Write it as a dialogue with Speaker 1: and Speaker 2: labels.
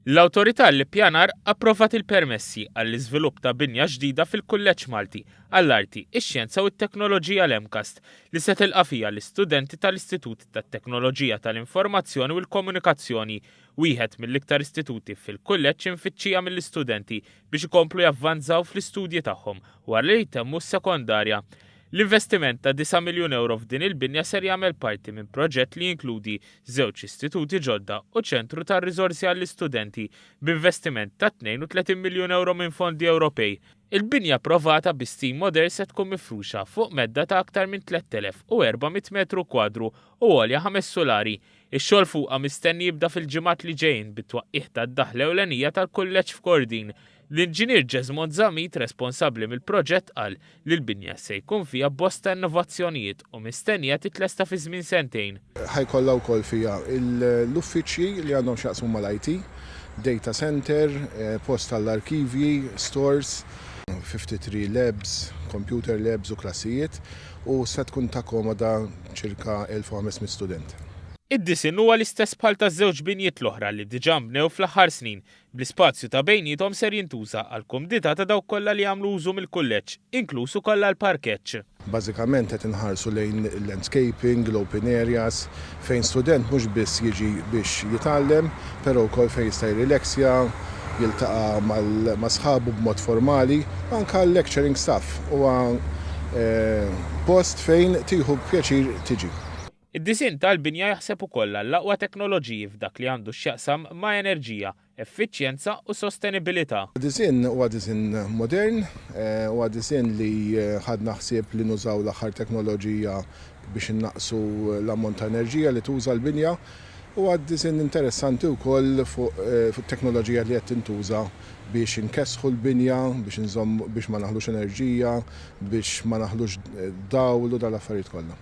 Speaker 1: L-Awtorità għall-Ippjanar approvat il-permessi għall-iżvilupp ta' binja ġdida fil-Kulleġġ Malti għall-Arti, ix-Xjenza u t-Teknoloġija l-MCAST li se tilqa' fiha l-istudenti tal-Istitut tat-Teknoloġija tal-Informazzjoni u l-Komunikazzjoni, wieħed mill-iktar istituti fil-Kulleġġ imfittxija mill-istudenti biex ikomplu javvanzaw fl-istudji tagħhom wara li jtemmu s-sekondarja. L-investiment ta' 9 miljun ewro f'din il-binja ser jagħmel parti minn proġett li jinkludi żewġ istituti ġodda u ċentru ta' riżorsi għall-istudenti b'investiment ta' 32 miljun ewro minn fondi Ewropej. Il-binja approvata bi stil modern se tkun mifruxa fuq medda ta' aktar minn 3,400 metru kwadru u għolja ħames sulari, Ix-xogħol fuqha mistenni jibda fil-ġimgħat li ġejjin bit-twaqqigħ tad-daħla ewlenija tal-kulleġġ f'Kordin. L-Inġinier Jesmond Zammit responsabbli mill-proġett qal li l-binja se jkun fiha bosta innovazzjonijiet u mistennija titlesta fi żmien sentejn. Ħa jkollha wkoll
Speaker 2: fiha l-uffiċċji li għandhom x'jaqsmu mal-IT, data center, post għall-arkivji, stores, 53 labs, computer labs u klassijiet. u se tkun takkomoda ċirka 1,500 student. Id-disinn huwa
Speaker 1: l-istess bħal taż-żewġ binjiet l-oħra li diġà nbnew fl-aħħar snin, bl-ispazju ta' bejniethom ser jintuża għall-kumdità ta' dawk kollha li jagħmlu użu mill-kulleġġ, inkluż ukoll għall-parkeġġ. Bażikament qed
Speaker 2: inħarsu lejn il-landscaping, l-open areas, fejn student mhux biss jiġi biex jitgħallem, però wkoll fejn jista' jirrileksja, jiltaqa' ma' sħabu b'mod formali, anke għal-lecturing staff huwa post fejn tieħu pjaċir tiġi. Id-disinn
Speaker 1: tal-binja jaħseb ukoll għall-aqwa teknoloġiji f'dak li għandu x'jaqsam ma' enerġija, effiċjenza u sostenibilità. Id-disinn huwa
Speaker 2: disinn modern, huwa disinn li ħadna ħsieb li nużaw l-aħħar teknoloġija biex innaqqsu l-ammont ta' enerġija li tuża l-binja. Huwa disinn interessanti wkoll fuq it-teknoloġija li qed tintuża biex inkessħu l-binja, biex inżommu, biex ma naħlux enerġija, biex ma naħlux dawl u dawn l-affarijiet kollha.